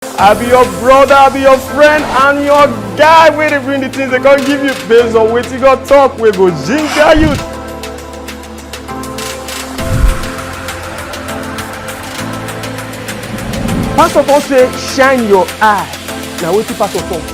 I be your brother, I be your friend, and your guy wey dey bring the things they come give you based on wetin God talk wey go ginger you. Pastor Paul say shine your eye na wetin pastor talk.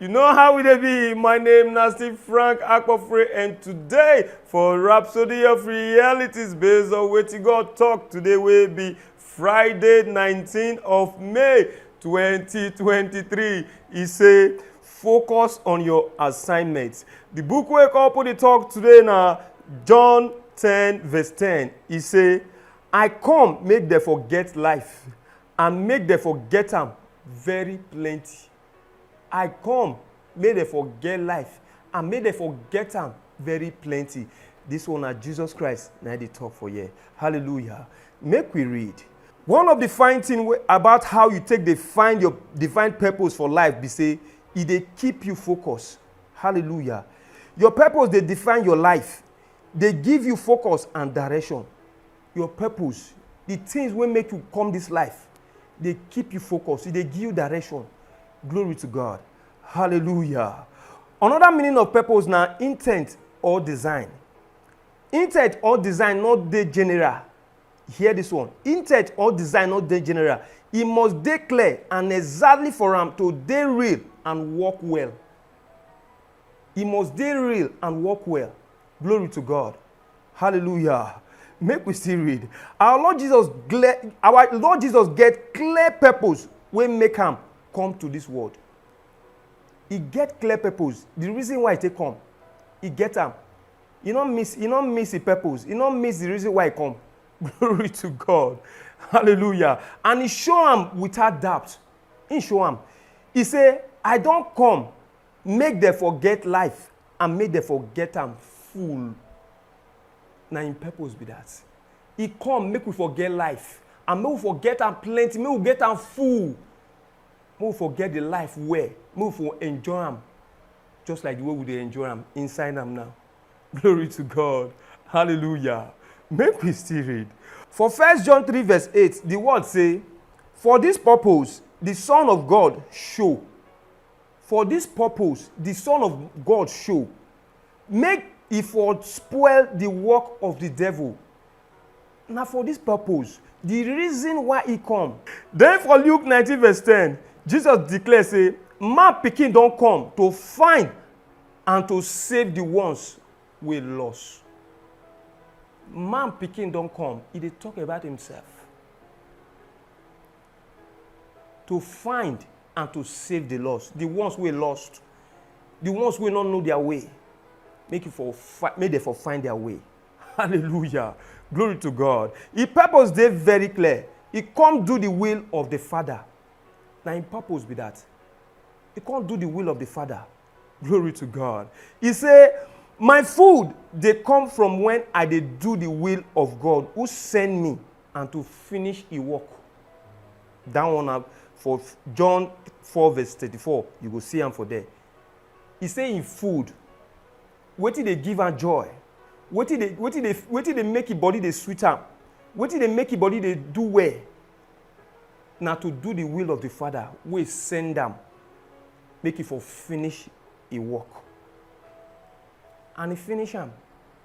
You know how we dey be. My name na Steve Frank Akpofre and today for Rhapsody of Realities based on wetin God talk today wey be Friday 19 of May 2023. E say focus on your assignment. The book wey come put the talk today na John 10 verse 10. E say I come make dem for get life and make dem for get am very plenty. I come make dem for get life and make dem for get am very plenty. This one na Jesus Christ na I dey talk for here. Hallelujah. Make we read. One of the fine thing wey- about how you take dey find your divine purpose for life be say e dey keep you focus. Hallelujah. Your purpose dey define your life, dey give you focus and direction. your purpose, the things wey make you come this life, dey keep you focus, e dey give you direction. Glory to God. Hallelujah. Another meaning of purpose na intent or design. Intent or design no dey general. Hear this one. Intent or design no dey general. E must dey clear and exactly for am to dey real and work well. E must dey real and work well. Glory to God. Hallelujah. Make we still read. Our Lord Jesus, gle- our Lord Jesus get clear purpose when make am come to this world. He get clear purpose. The reason why he take come, he get am. He no miss, he no miss the purpose. He no miss the reason why he come. Glory to God. Hallelujah. And he show am without doubt. He show am. He say, I don come make dem for get life and make dem for get am full. Na im purpose be that. E come make we for get life and make we for get am plenty, make we get am full. Make we for get the life well, make we for enjoy am just like the way we dey enjoy am inside am now. Glory to God. Hallelujah. Make we still read. For First John 3 verse 8, the word say, For this purpose the Son of God show For dis purpose di Son of God show, make e for spoil di work of di devil. Na for dis purpose, di reason why e come. Den for Luke nineteen verse ten, Jesus declare sey man pikin don come to find and to save di ones wey lost. Man pikin don come, e dey talk about himself. to find and to save the lost the ones wey lost the ones wey no know their way make you for fi- make dem for find their way hallelujah glory to god e purpose dey very clear e come do the will of the father na im purpose be that e come do the will of the father glory to god e say my food dey come from when i dey do the will of god who send me and to finish e work. That one na for John 4 verse 34, you go see am for there. E say im food, wetin dey give am joy, wetin dey wetin dey wetin dey make im body dey sweet am, wetin dey make im body dey do well, na to do the will of the Father wey send am make e for finish e work. And e finish am,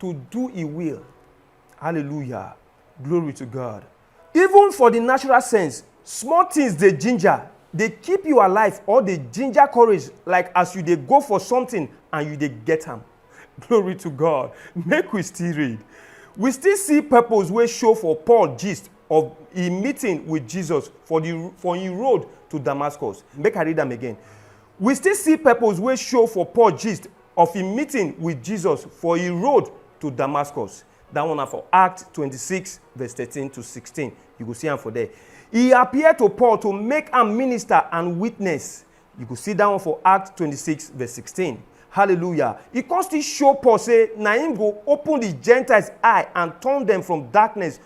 to do e will hallelujah glory to god even for the natural sense small things dey ginger dey keep you alive or dey ginger courage like as you dey go for something and you dey get am glory to god make we still read we still see purpose wey show for paul gist of e meeting with jesus for the for him road to damascus make i read am again We still see purpose wey show for Paul gist of im meeting wit Jesus for e road to Damascus. Dat one na for Act twenty six verse thirteen to sixteen. You go see am for there. E appear to Paul to make am minister and witness. You go see dat one for Act twenty six verse sixteen. Hallelujah! E come still show Paul say na im go open di Gentiles eye and turn dem from darkness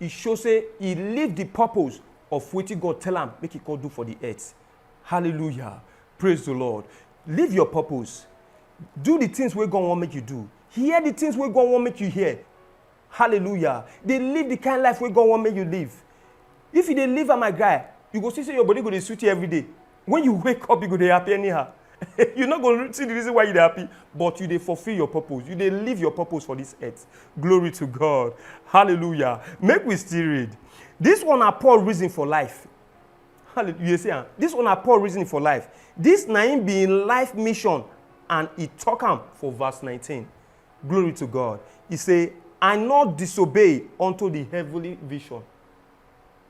e show say e leave the purpose of wetin God tell am make e come do for the earth. Hallelujah. Praise the Lord. Leave your purpose. Do the things wey God wan make you do. Hear the things wey God wan make you hear. Hallelujah. Dey live the kind life wey God wan make you live. If you dey live am, my guy, you go see say your body go dey sweet you every day. When you wake up, you go dey happy anyhow. you no go see the reason why you dey happy, but you dey fulfill your purpose. You dey live your purpose for this earth. Glory to God. Hallelujah. Make we still read. This one na Paul reason for life. Hallelujah. You dey see am? This one na Paul reason for life. This na him be him life mission and he talk am for verse 19. Glory to God. He say, I not disobey unto the heavenly vision.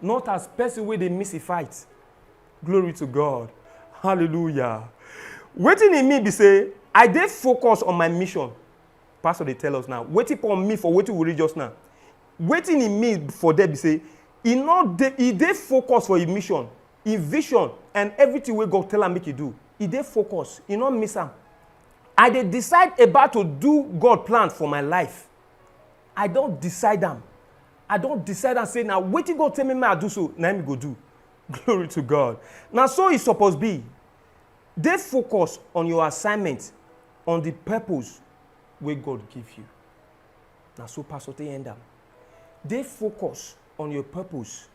not as person wey dey miss a fight. Glory to God. Hallelujah. Wetin e mean be say I dey focus on my mission. Pastor dey tell us now. Wetin Paul mean for wetin we read just now. Wetin e mean for there be say e no dey e dey focus for im mission, im vision and everything wey God tell am make e do. E dey focus, e no miss am. I dey decide about to do God plan for my life. I don decide am. I don decide am say na wetin God tell me make I do so, na him I go do. Glory to God. Na so e suppose be. Dey focus on your assignment, on the purpose wey God give you. Na so pastor take end am. Dey focus on your purpose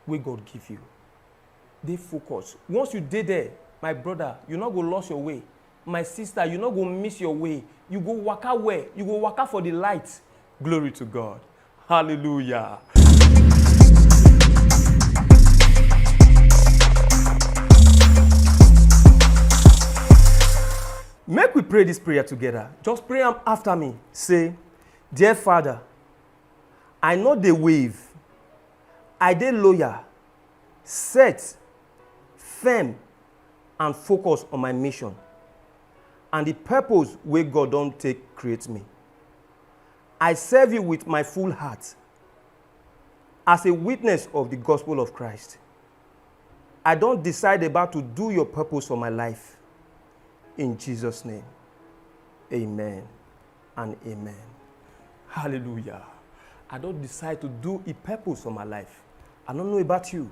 wey God give you. Dey focus. Once you dey there, my brother, you no go lost your way. my sister you no go miss your way you go waka well you go waka for the light glory to god hallelujah. Make we pray this prayer together. Just pray am after me. Say, Dear Father, I know the wave. I dey loyal, set, firm, and focus on my mission and the purpose wey God don take create me. I serve you with my full heart as a witness of the gospel of Christ. I don decide about to do your purpose for my life. In Jesus' name, amen and amen. Hallelujah. I don decide to do a purpose for my life. I don't know about you.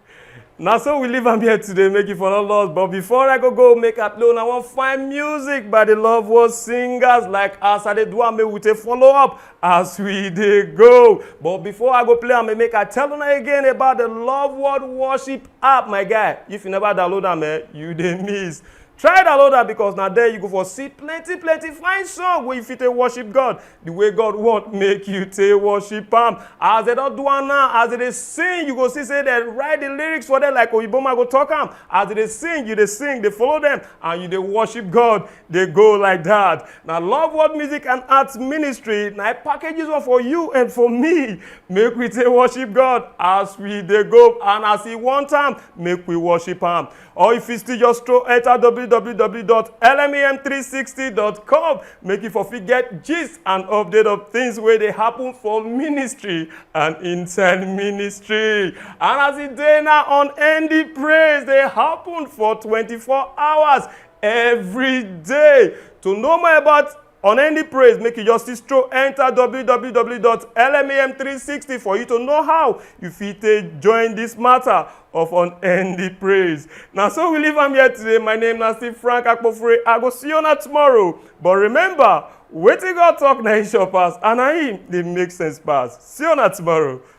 na so we leave am here today make you for no loss but before i go go make i play una wan find music by the love world singers like as i dey do am make we take follow up as we dey go but before i go play am make i tell una again about the love world worship app my guy if you never download am eh you dey miss try download am because na there you go for see plenty plenty fine song wey you fit take worship god the way god want make you take worship am as dem don do am now as dem dey sing you go see say dem write the lyrics for them like oyinboma go talk am as dem dey sing you dey sing dey follow them and you dey worship god dey go like that na love world music and arts ministry na i package this one for you and for me make we take worship god as we dey go and as he want am make we worship am or you fit still just stroll enter www.lmem360.com make you for fit get gist and update of things wey dey happen for ministry and inside ministry and as e dey now on end the praise dey happen for 24 hours every day to know more about Unending praise make you just stroll enter www.lmam360 for you to know how you fit take join this matter of unending praise. Na so we leave am here today. My name na still Frank Akpofure. I go see you na tomorrow. But remember, wetin God talk na him sure pass and na him dey make sense pass. See you na tomorrow.